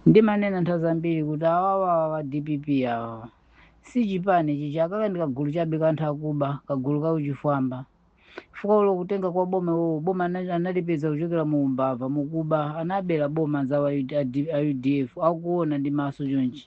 Ndimanena nthawi zambiri kuti awawawa a dpp awawa si chipani chichi akaka ndi kagulu chabe ka anthu akuba kagulu ka uchifwamba chifukwa olo kutenga kwa boma iwowo boma anali- analipeza kuchokera mu umbava mukuba anabera boma anzawo a UD- a D- a udf akuona ndi maso chonchi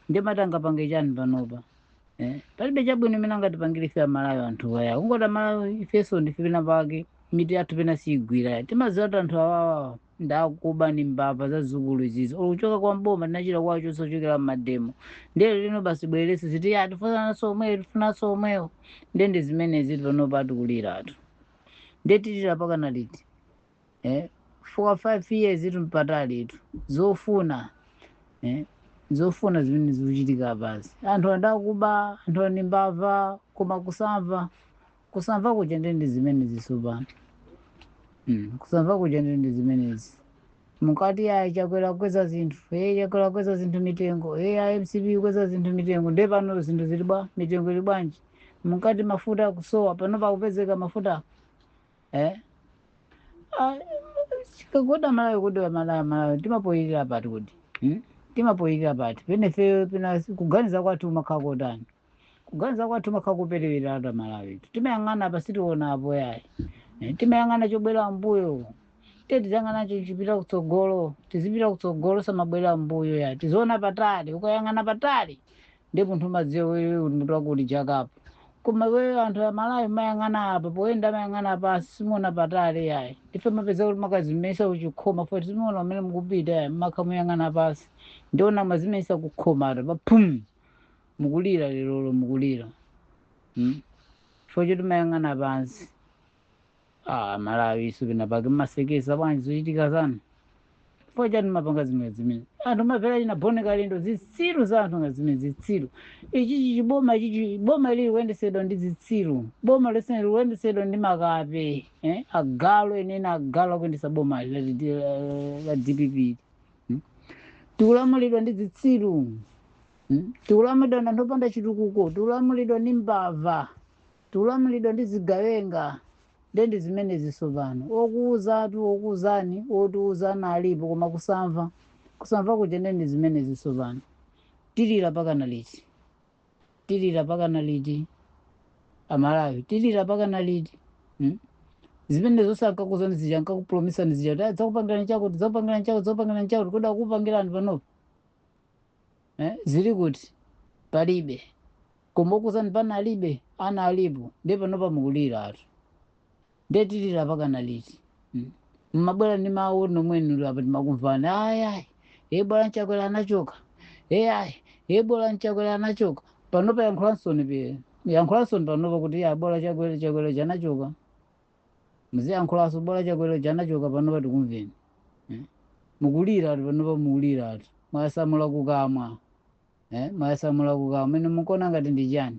ndimati angapange chani panopa eh? palibe chabwino imene angatipangire ife amalawi anthu awa kungoti amalawi ifenso ndife pena pake mitu yathu pena siyigwira timadziwa kuti anthu awawawa ndakuba ndi mbava zazikulu izizi olo kuchoka kwa mboma tinachita kuwachotsa kuchokera mmademo ndiye lerolino basi bwerese ziti ya tifunanso omweyo tifunanso omweyo ndiye ndi zimenezi panopa tikuliratu ndiye tilira pakana liti eh? for five years tu mpatalitu zofuna eh? zofuna zimene zikuchitika basi anthuwa ndakuba anthuwa ndi mbava koma kusamva Kusamva kuja nde ndi zimenezi tsopano. Mm, kusamva kuja nde ndi zimenezi. Munkati ayi Chakwera kukweza zinthu, eh Chakwera kukweza zinthu mitengo, eh a MCP kukweza zinthu mitengo. Nde pano zinthu zili bwa, mitengo ili bwanji? Munkati mafuta kusowa, panopa akupezeka mafuta. Eh? Ah, chikagoda malawi kudowa malawi malawi timapoyirira pati kuti? Hmm? Timapoyirira pati. Pena ife pena kuganiza kwathu kumakhala kotani. kuganiza kwathu kumakhala kopereweratu amalawi timayang'ana apa sitiona apo yayi Eh, timayang'ana chobwerera mbuyo te tiziyang'ana chopita kutsogolo tizipita kutsogolo osamabwerera mbuyo yayi tiziona patali ukayang'ana patali ndipo munthu umadziwa wewe uli mutu wako uli jakapo koma wewe anthu a malawi mumayang'ana apa poyenda mumayang'ana pansi simuona patali yayi ife mumapeza kuti mumakadzimenyetsa kuchikhoma foti simuona kumene mukupita yayi mumakhala mukuyang'ana pansi ndiona mumadzimenyetsa kukhoma ata paphum mukulira lerolo mukulira mm? chifukwa choti mumayang'ana pansi ah, amalawi inu penapake mumaseketsa bwanji zochitika zanu chifukwa chani mumapanga zimene zimene anthu mapera ina bone kalendo zitsiru za anthu nga zimene zitsiru ichichi chiboma ichichi boma ili likuyendesedwa ndi zitsiru boma lonse likuyendesedwa ndi makape eh? agalu enieni agalu akuyendesa boma la, la, la dpp hmm? tikulamulidwa ndi zitsiru Hmm? Tikulamulidwa ndi anthu opanda chitukuko, tikulamulidwa ndi mbava, tikulamulidwa ndi zigawenga. Nde ndi zimenezi tsopano, okuwuzatu okuwuzani otiwuza analipo koma kusamva, kusamva kuja nde ndi zimenezi tsopano. Tilira pakana liti? Tilira pakana liti? Amalawi tilira pakana liti? Hmm? zimene zonse ankakuuzani zija ankakupromisani zija kuti "Ah, dzakupangirani chakuti dzakupangirani chakuti dzakupangirani chakuti kodi akupangirani panopa eh, zili kuti palibe koma okuuzani pano alibe ana alipo ndiye panopa mukuliratu ndiye tilira mpakana liti Mm. mmabwera ndi mawu omwewo uli apa timakumvani ayayi bola chakwera anachoka eyayi bola chakwera anachoka panopa yankhulansoni pe yankhulansoni panopa kuti bola chakwera chakwera anachoka muziyankhulaso bola chakwera uja anachoka panopa tikumveni eh? mukuliratu panopa mukuliratu mwayasamula kukamwa eh? mwayasamula kukamwa mene mukuona ngati ndi chani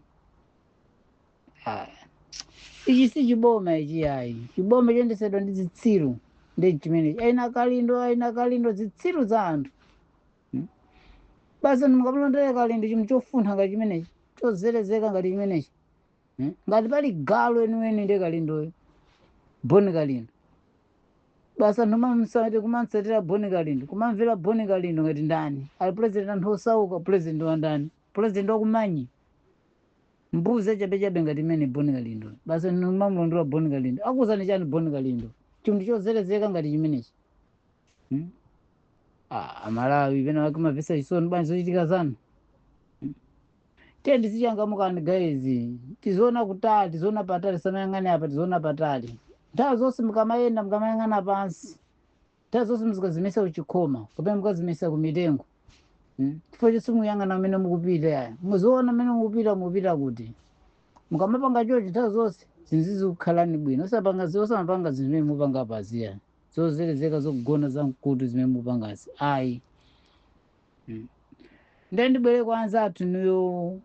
Ah, ichi si chiboma ichi ayi chiboma choyendesedwa ndi zitsiru ndi chimenechi achina kalindo achina kalindo zitsiru za anthu Hmm? basi mukamulondole kalindo chinthu chofuntha ngati chimenechi chozerezeka ngati chimenechi Eh? ngati pali galu weniweni ndi kalindoyo boni kalindo basi anthu kumamsati kumamsatira boni kalindo kumamvera boni kalindo ngati ndani ati pulezidenti anthu osauka pulezidenti wa ndani pulezidenti wakumanyi mbuzi yachabechabe ngati imene boni kalindo basi anthu kumamulondola boni kalindo akuuzani chani boni kalindo chinthu chozerezeka ngati chimenechi Hmm? Ah, amalawi pena wake mumamvesa chisoni bwanji zochitika zanu tiyeni tizichangamukani guys tiziona kutali tiziona patali tisamayang'ane apa tiziona patali nthawi zonse mukamayenda mukamayang'ana pansi nthawi zonse muzikazimenyesa kuchikhoma kapena mukazimenyesa kumitengo Mm. chifukwa choti simuyang'ana kumene mukupita yaya muziona kumene mukupita mukupita kuti mukamapanga chochi nthawi zonse zinthu zizikukhalani bwino osapanga zi- osamapanga zinthu zimene mupanga apazi yayi zozerezeka zogonthetsa mkutu zimene mupangazi ayi Mm. ndiye ndibwere kwa anzathu inuyo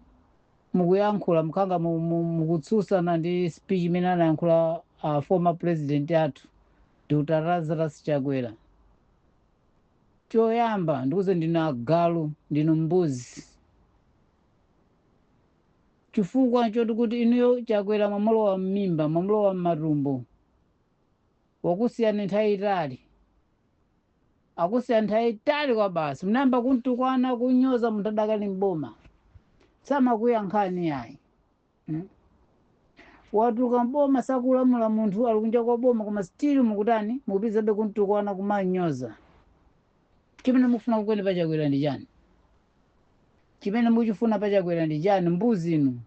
mukuyankhula mukhala ngati mu- mu- mukutsutsana ndi speech imene anayankhula uh, former president athu dr lazarus chakwera choyamba ndikuuzeni ndinu agalu ndinu mbuzi chifukwa choti kuti inuyo chakwera mwamulowa m'mimba mwamulowa m'matumbo wakusiyani nthawi itali akusiyani nthawi itali kwabasi mnayamba kumtukwana kunyoza munthu adakali mboma samakuyankhani yayi mm? watuluka mboma sakulamula munthu ali kunja kwa boma koma still mukutani mukupitirizabe kumtukwana kumunyoza chimene mukufuna kwenikweni pachakwera ndi chani chimene mukuchifuna pachakwera ndi chani mbuzi inu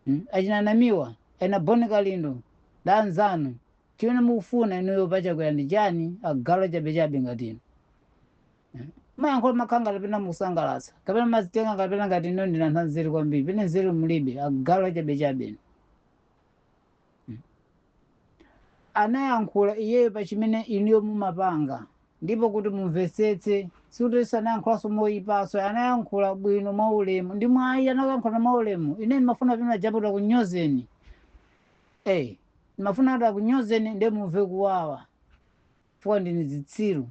Mm, achina namiwa achina boni kalindo ndi anzanu chimene mukufuna inuyo pachakwera ndi chani agalu achabechabe ngati inu Mm. mumayankhula mumakhala ngati pena mukusangalatsa kapena mumazitenga kapena ngati inu ndinu anthu anzeru kwambiri pene nzeru mulibe agalu achabechabe inu anayankhula iyeyo pa chimene inuyo mumapanga ndipo kuti mumvetsetse sikuti anayankhulanso moyipaso anayankhula bwino mwaulemu ndi mwayi anakuyankhulani mwaulemu ine ndimafuna pena japo atakunyozeni eh ndimafuna kuti akunyozeni ndiye mumve kuwawa chifukwa ndinu zitsiru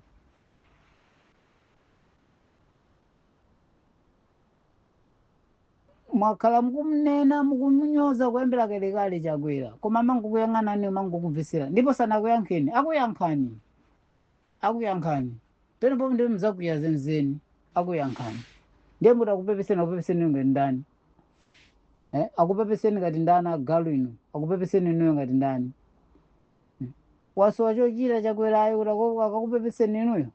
mwakhala mukumnena mukumunyoza kuyambira kalekale chakwera koma amangokuyang'anani amangokumvetsera ndipo sanakuyankheni akuyankhani akuyankhani penepo ndiye mudzakwiya zenzeni akuyankhani ndiye muti akupepeseni akupepeseni ngati ndani eh? akupepeseni ngati ndani agalu inu akupepeseni inuyo ngati ndani wasowa chochita chakwerayo kuti akakupepeseni inuyo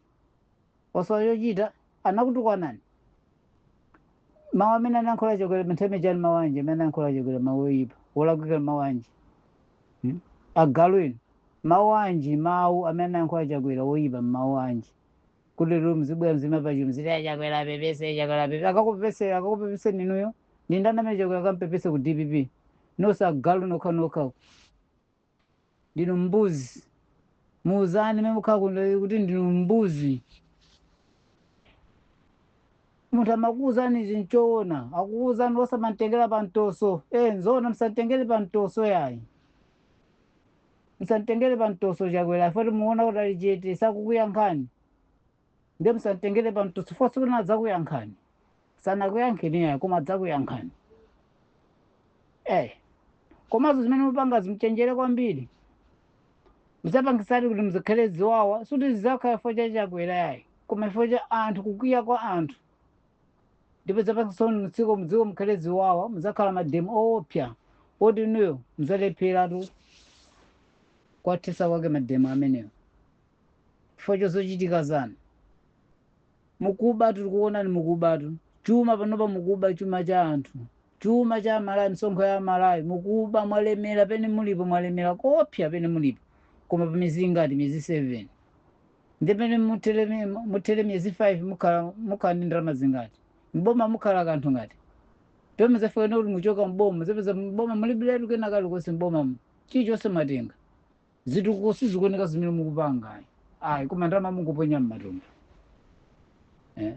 wasowa chochita anakutukwanani mawu amene anayankhula chakwera mntheme chani mawu anji amene anayankhula chakwera mawu oyipa olakwika mawu anji Hmm? agalu inu mawu anji mawu amene anayankhula chakwera oyipa mawu anji kuti lero mzibwera mziima patsogolo mziti achakwera apepese chakwera apepese akakupepesera akakupepeseni inuyo ndi ndani amene chakwera akampepese ku dpp nonse agalu okhaokha ndinu mbuzi muuzane mmene mukhala kuno kuti ndinu mbuzi munthu amakuuzani chinthu choona akukuuzani osamamutengera pa mtoso e nzoona musamtengere pa mtoso yayi musamtengere pa mtoso chakwera chifukwa choti muona kuti ali chete sakukuyankhani ndiye musamtengere pa mtoso chifukwa tsiku lina adzakuyankhani sanakuyankheni yayi koma adzakuyankhani eh komanso zimene mupangazi muchenjere kwambiri mudzapangitsatu kuti mudzakhale ziwawa sikuti zizakhala chifukwa cha chakwera yayi koma chifukwa cha anthu kukwiya kwa anthu ndipo mudzapangitsa mdziko mdziko mukhale ziwawa muzakhala mademo oopsa oti inuyo muzalepheratu kuwathetsa kwake mademo amenewo chifukwa cha zochitika zanu. Mukubatu, tikuonani mukubatu. Chuma panopa mukuba chuma cha anthu. Chuma cha Amalawi, misonkho ya Amalawi, mukuba mwalemera pene mulipo, mwalemera koopsa pene mulipo. Koma pa miezi ingati? Miezi 7. Ndiye pamene muthere mi- muthere miezi 5 mukhala mukhala ndi ndalama zingati? Mboma mukhala kanthu ngati? Ndipo mudzafika kuti muchoka mboma, mudzapeza mboma mulibiletu kena kalikonse mbomamo. Chilichonse mwatenga. zitukuko sizikuoneka zimene mukupanga ayi ayi koma ndalama mungoponya m'matumba eh.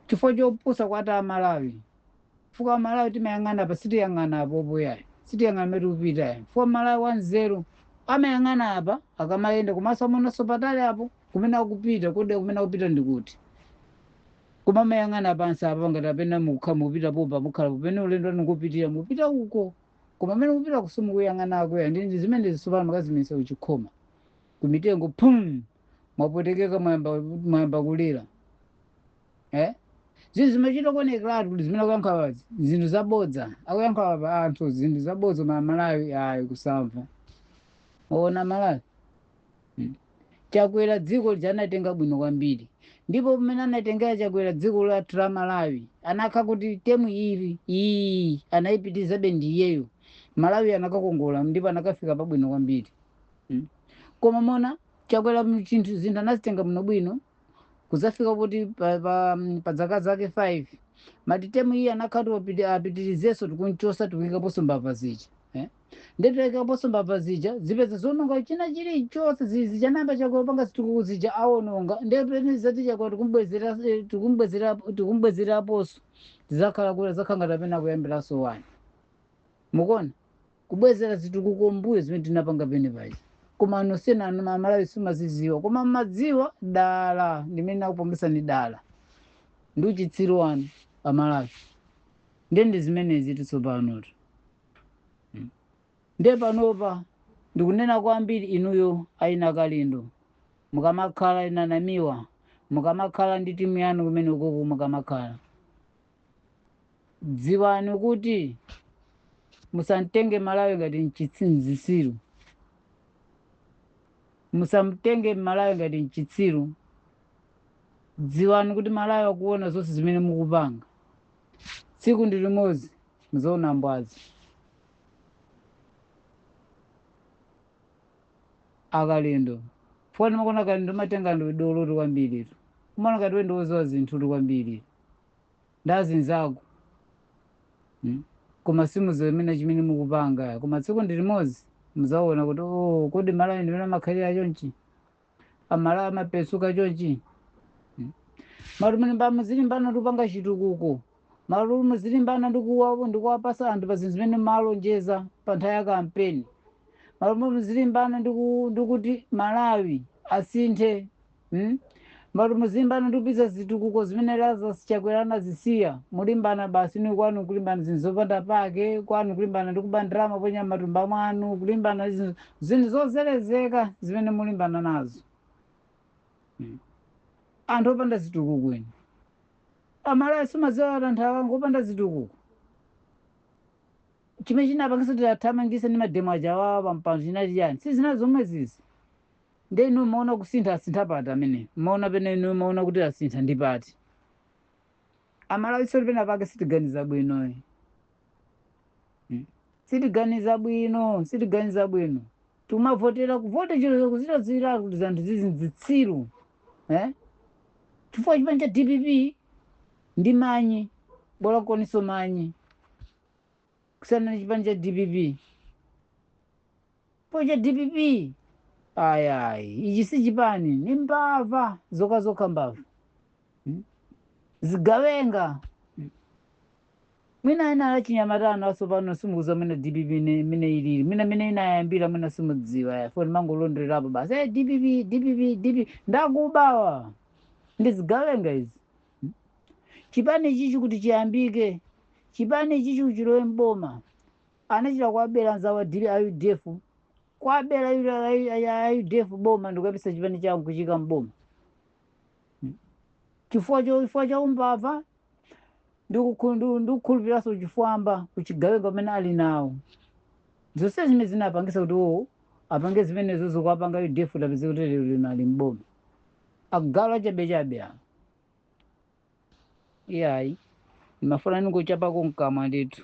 chifukwa chopusa kwa ife amalawi fuka amalawi timayang'ana apa sitiyang'ana apa apo yayi sitiyang'ana mmene tikupita yayi fuka mmalawi wanzeru amayang'ana apa akamayenda komanso amaonanso patali apo kumene akupita kodi kumene akupita ndi kuti koma amayang'ana pansi apa ngati apena mukukhala mupita pompa mukhala popene ulendo ukupitira mupita uko koma mmene mukupita simukuyang'ana akwera ndi ndi zimenezi tsopano mwakazimenyetsa kuchikhoma kumitengo pum mwapwetekeka mwayamba mwayamba kulira eh zinthu zimachita kuonekeratu kuti zimene akuyankha zinthu zabodza akuyankha apa anthu zinthu zabodza koma amalawi ayi kusamva ona malawi Mm. chakwera dziko lija anatenga bwino kwambiri ndipo pamene anatengera chakwera dziko lathu la malawi anakakhala kuti temu iri iyi anayipitirizabe ndi iyeyo malawi anakakongola ndipo anakafika pabwino kwambiri Mm. koma mwaona chakwera mu- chinthu zinthu anazitenga bwino bwino kuzafika kuti pa, pa, mm, pa zaka zake 5 mmalo moti temu iyi anakakhala kuti wapiti- apitirizenso tikumuchosa tikuikaponso mbava zija eh? ndiye taikaponso mbava zija zipeza zononga china chilichonse zi- zija anayamba chakwera kupanga zitukuko zija awononga ndiye pamene tizati chakwera tikumbwezera eh, tikumbwezera tikumbwezeraponso zizakhala kuti zakhala ngati amene akuyambiranso 1 mukuona kubwezera zitukuko mbuyo zimene tinapanga pene paja koma ananu sikuti amalawi simaziziwa koma mmadziwa dala ndimene akupombesani dala ndi uchitsiru wanu amalawi ndiye ndi zimenezi tsopanotu Mm. nde panopa ndikunena kwambiri inuyo achina kalindo mukamakhala achina namiwa mukamakhala ndi timu yanu kumeneko uko mukamakhala dziwani kuti musamtenge malawi ngati nchitsiru zitsiru musamtenge malawi ngati nchitsiru dziwani kuti malawi akuona zonse zimene mukupanga tsiku ndi limodzi muzaona mbwadza akalindo fukwa ndimakuona kalindo umazitenga ndiwe dolotu kwambiritu umaona ngati iwe ndi woziwa zinthutu kwambiri ndi azinzako mm? koma simuziwa nkomwe chimene mukupanga koma tsiku ndi limodzi muzaona kuti oh, kodi malawi ndimene amakhalira chonchi amalawi amapenzuka chonchi Hmm? mmalo moti mulimba muzilimbana ndikupanga chitukuko mmalo moti muzilimbana ndikuwa- ndikuwapasa anthu pa zinthu zimene munalonjeza pa nthawi ya kampeni mmalo moti muzilimbana ndiku- ndikuti malawi asinthe Hmm? mmalo moti muzilimbana ndikupitiza zitukuko zimene lazarus chakwera anazisiya mulimbana basi ni kwanu kulimbana zinthu zopanda pake kwanu kulimbana ndikuba ndalama kuponya mmatumba mwanu kulimbana zinthu zinthu zozerezeka zimene mulimbana nazo Mm. anthu opanda zitukuko inu amalawi simumadziwa kuti anthu awa ngo opanda zitukuko chimene chinapangisa kuti tiathamangise ndi mademo aja awawa pampando chinali chani si zina zomwezizi nde inu mwaona kusintha asintha pati pamene mwaona pamene inu mwaona kuti asintha ndi pati amalawi soni pena pake sitiganiza bwino ayi Mm. sitiganiza bwino sitiganiza bwino tikumavotera kuvota chero tikudziwiratu kuti zanthu zizi nzitsiru eh? chifukwa chipani cha dpp ndi manyi bola komanso manyi kusiyana ndi chipani cha dpp poti cha dpp ayayi ichi si chipani ni mbava zokha zokha mbava Mm. zigawenga Mwina enanu achinyamata inu atsopano simukudziwa mwina dpp mmene ilili, mwina mmene inayambira mwina simudziwa inuyo mumangolondolerapo basi hey, dpp dpp dpp ndi akubawa ndi zigawenga izi hmm? chipani ichi kuti chiyambike chipani ichi kuti chilowe mboma anachita kuwabera anzawo a udf kuwabera a udf boma ndikuyambisa chipani chawo kufika mboma hmm? chifukwa chifukwa cha umbava ndikukhu- ndu- ndikukhulupiriranso uchifwamba uchigawenga umene ali nawo zonse zimene zinapangisa kuti iwowo apange zimenezo zokuwapanga a udf apezeke kuti lero lino ali mboma agalu achabechabe awo iyayi ndimafuna ningochapako mkamwa ndithu